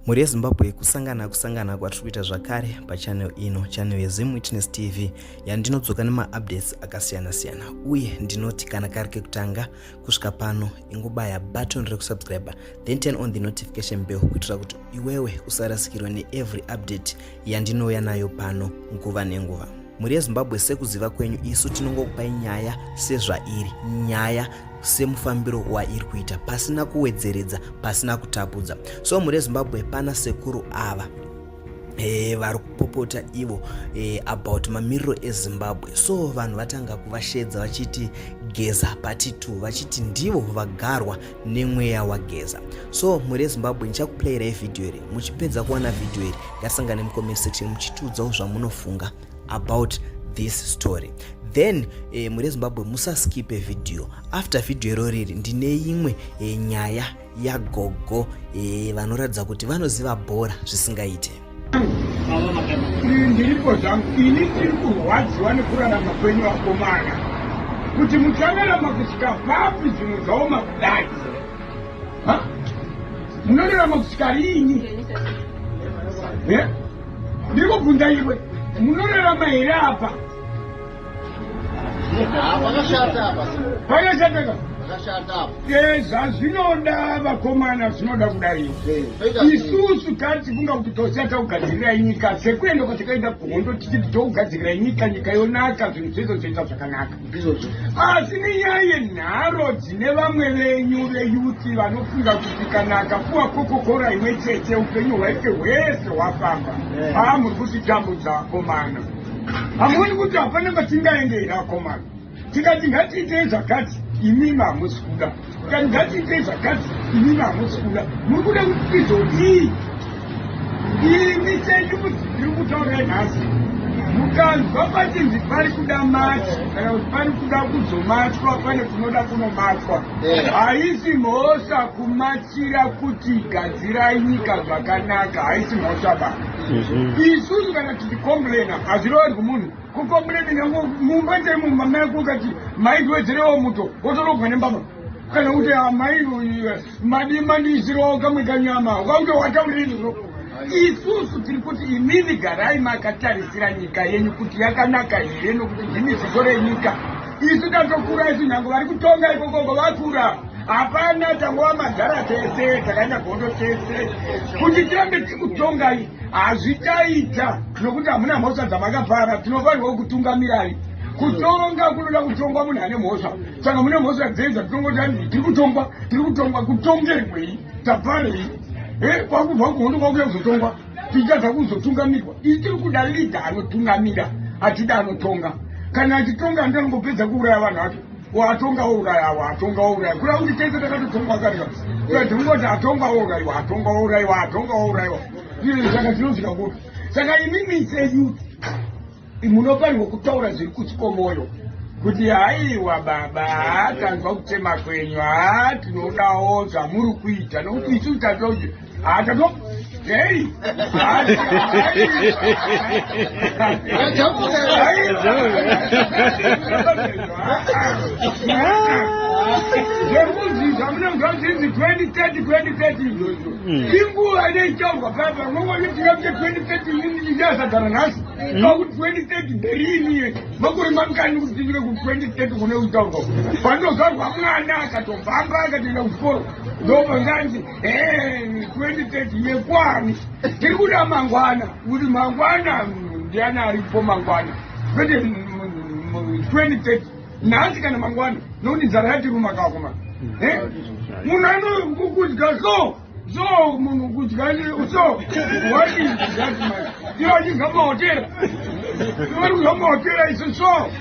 mhuri yezimbabwe kusangana kusangana kwatiri kuita zvakare pachanel ino chanel yezim witness tv yandinodzoka nemaupdates akasiyana-siyana uye ndinoti kana kari kekutanga kusvika pano ingobaya button rekusubscribe then turn on the notification bell kuitira kuti iwewe usarasikirwa neevery update yandinouya nayo pano nguva nenguva mhuri yezimbabwe sekuziva kwenyu isu tinongokupai nyaya sezvairi nyaya semufambiro wairi kuita pasina kuwedzeredza pasina kutapudza so mhuri yezimbabwe pana sekuru ava e, vari kupopota ivo e, about mamiriro ezimbabwe so vanhu vatanga kuvashedza vachiti geza patitu vachiti ndivo vagarwa nemweya wageza so mhuri yezimbabwe ndichakuplayirai vhidhiyo iri muchipedza kuwana vhidhiyo iri ngasangane mucomment section muchitiudzawo zvamunofunga about this story then eh, mhuri yezimbabwe musaskipe vhidhiyo after vhidhiyo iro riri ndine imwe eh, nyaya yagogo eh, vanoratidza kuti vanoziva bhora zvisingaite ndiripo zvangu ini tiri kurwadziwa nekurarama kwenyu vakomana kuti muchararama kusvika papi zvinhu zvaoma kudai munorarama kusvika riini ndiri kubvunza iwe munorarama here apa zvazvinoda vakomana zvinoda kudai isusu tatifunga kuti tosata kugadzirirai nyika sekuenda kwatakaita kuhondo tichiti tokugadzirirai nyika nyika yonaka zvinhu zvese zvoita zvakanaka asi nenyaya yenharo dzine vamwe venyu veyuti vanofunga kuti kana akapuwa kokokora imwe chete upenyu hwaite hwese hwafamba haa muri kutitambudza vakomana hamuoni kuti hapana kwatingaende here akomana tikati ngatiitei zvakati imimi hamusi kuda tikati ngatiitei zvakati imimi hamusi kuda muri kuda kuti tizodii imi chenyu kuti ndiri kutaura nhasi mukanzwa pachinzi pari kuda matsi kana kuti pari kuda kuzomatwa pane kunoda kunomatwa haisi mhosva kumatsira kuti gadzirai nyika zvakanaka haisi mhosva baa isusu kana tichicomplaina hazviroori kumunhu kucomplaina nyange mumba chaimo mumba mako ukati maitiwedzerewo muto wotorogwa nembama kana kuti amai ah, madii mandiisirawo kamwe kanyama ukaunge watauririro isusu tiri kuti imini garai makatarisira nyika yenyu kuti yakanaka here nokuti ndimi ziso renyika isu tatokura isu nyange vari kutonga ikokoko vakura Hapana tangova magara tese takaenda gondo tese kuti tirambe tikutongai hazvichaita nokuti hamuna mhosva dzamakapara tinofanirwa kutungamirai kutonga kunoda kutongwa munhu ane mhosva saka mune mhosva dzei dzatongoti anii tiri kutongwa tiri kutongwa kutongerwei taparei e kwakubva kuhondo kwakuya kuzotongwa tichadza kuzotungamirwa ii tiri kuda lidha anotungamira atida anotonga kana achitonga andanongopedza kuuraya vanhu vacho Ko atonga ourayawa atonga ouraiwa kura kuti tese takatotongwa kare ka kura ndingoti atonga ouraiwa atonga ouraiwa atonga ouraiwa izvi saka zvinosvika kupi saka imimi seyouth munofanirwa kutaura zviri kusi kwomoyo kuti haiwa baba hatanzwa kutema kwenyu ha tinodawo zvamuri kuita nokuti isu tatoje Atato. Hey. zvekudzidzwa mune muzvazinzi 2030 2030 izvozvo inguva inoitaurwa paya pamwe vane tirambe 2030 ichasagara nhasi pakuti 2030 berini ye makore mangani kuti tinyike ku 2030 kune kutaurwa pandogarwa mwana akatobvamba akatoenda kuchikoro ndopanganzi 2030 yekwani tiri kuda mangwana kuti mangwana ndiani aripo mangwana kwete 2030 nhasi kana mangwana nokuti nzara yatiruma kakoma munhu anokudya so so munhu kudya so waiiaa ivo achidya mahotera ivo vari kudya mahotera isu so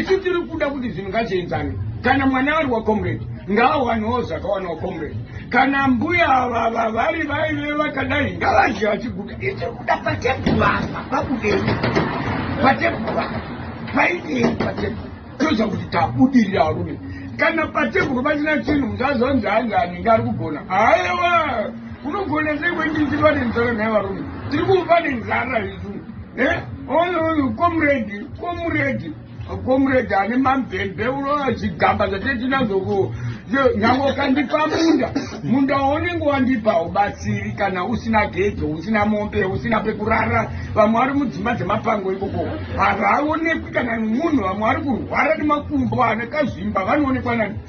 isu tiri kuda kuti zvinhu ngazvienzane kana mwana ari wacomrade ngaawanewo zvakawanawo comrade kana mbuya vava vari vaive vakadai ngavazhe vachiguda itiri kuda patebhuvasa pakudei patebhuvasa paidei patebhu toziva kuti tabudirira varume kana patebhuru pasina chinhu muzazonzi hanzi anenge ari kugona aewa unogona sei kwendinzi pane nzara nhai varume tiri kuva pane nzara izuu Eh, oyo oyo comrade comrade comrade ane mabhebhe unoona zvigamba zvate tinazoko nyangwe ukandipa munda munda waunenge wandipa ubatsiri kana usina gedzo usina mombe usina pekurara vamwe vari mudzimba dzemapango ikoko havaonekwi kana munhu vamwe vari kurwara nemakumbo anekazvimba vanoonekwa nani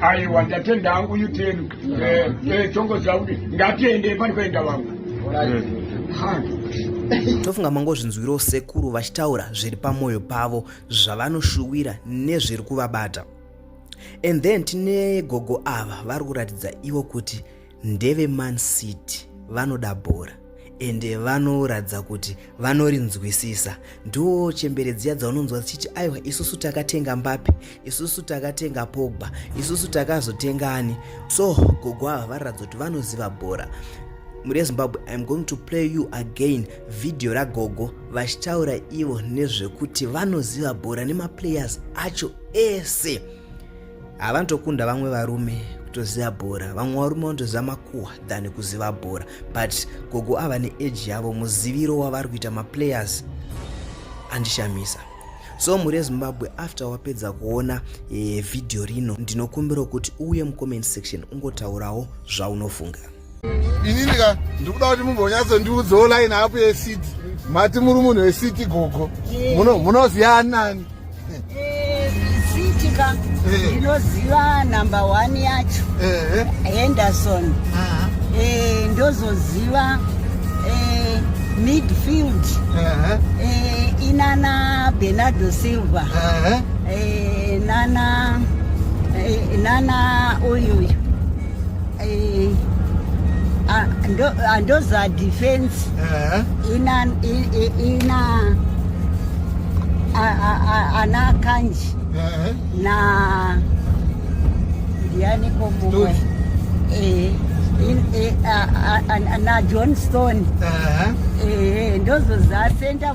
aiwa ndatenda hangu uyu tenu tongoziva kuti ngatiende pari kuenda vangu tofunga mangozvinzwirawo sekuru vachitaura zviri pamwoyo pavo zvavanoshuwira nezviri kuvabata and then tine gogo ava vari kuratidza ivo kuti ndeve man city vanoda bhora ende vanoratidza kuti vanorinzwisisa ndiwo chembere dziya dzaunonzwa dzichiti aiwa isusu takatenga mbape isusu takatenga pogba isusu takazotenga ani so gogo ava vararatidza kuti vanoziva bhora mune zimbabwe iam going to play you again vhidhiyo ragogo vachitaura ivo nezvekuti vanoziva bhora nemaplayers acho ese havantokunda vamwe varume kutoziva bhora vamwe varume vanotoziva makuhwa than kuziva bhora but gogo ava neage yavo muziviro wavari kuita maplayers andishamisa so mhuri yezimbabwe after wapedza kuona e, vhidhiyo rino ndinokumbirawo kuti uuye mucomment section ungotaurawo zvaunofunga inini ka ndikuda kuti mumbonyatso ndiudzewo line apo yesiti mati muri munhu wesiti gogo munoziva nani kuitika eh. ndinoziva number one yacho eh. henderson ah. eh, ndozoziva midfield inana bernardo silver nana nana uyuyu Eh, ah, ndo- ah, ndoza defense Eh, ina i- i- ina a- a- a- ana kanji eh, na ndiani komumwe Stones. Eh, in- eh, a- a- a- na john stone eh. Eh, ndozoza center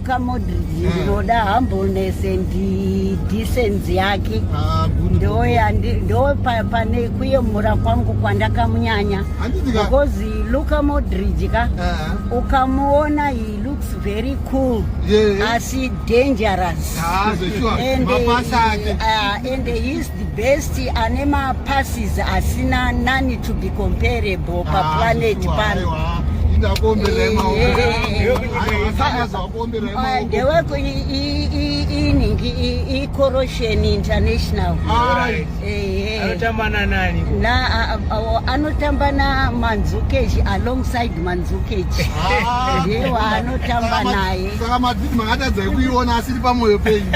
Kamodridge eh. ndinoda humbleness and decency yake ah, ndo pane kuyemura kwangu kwandakamunyanya because luka modridge ka eh. ukamuona he looks very cool asi dangerous ah, and, uh, and The best ane ma passes asina none to be comparable pa ah, planet pano. Ndeweko iningi i Corrosion International. Anotamba na nani? Na anotamba na Manzukeji alongside Manzukeji. Ah. Ndiye waanotamba naye. Saka madzidzi makatadza kuiona asiri pamoyo penyu.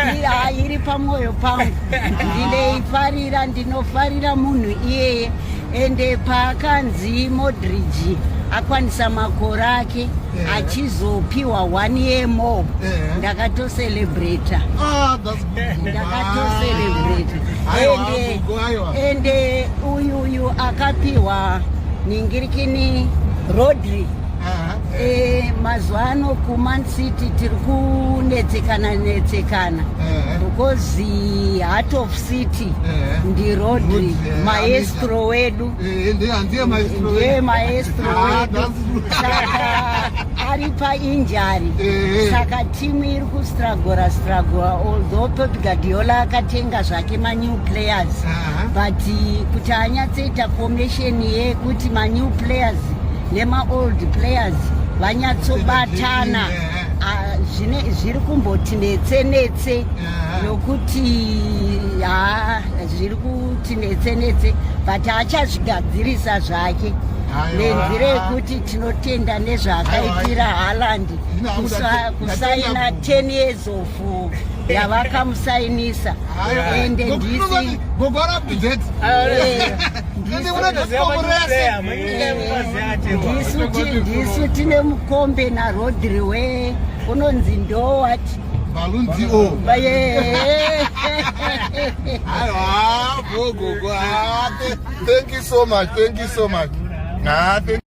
Iri pamoyo pangu. ndinoifarira ndinofarira munhu iyeye ende paakanzi modridge akwanisa makore ake yeah. achizopiwa one year more yeah. ndakatocelebrata ah, ndakatocelebrata ende uyu uyu akapiwa ningirikini rodri Eh, mazuva ano kuman city tiri kunetsekana netsekana eh. because eh, heart of city ndirodri maestro wedu ndiye maestro ah, wedu saka ari painjari saka timu iri kustragora stragora although pep gadiola akatenga zvake manew players but kuti anyatsoita formation yekuti manew players nemaold players vanyatsobatana zvine zviri kumboti netse netse nokuti ha zviri kuti netse netse but achazvigadzirisa zvake nenzira yekuti tinotenda nezvaakaitira haland kusaina 10 years of yavakamusainisa ende ndisi ndisu tine mukombe narodri we unonzi ndowat Thank you so much. Thank you so much.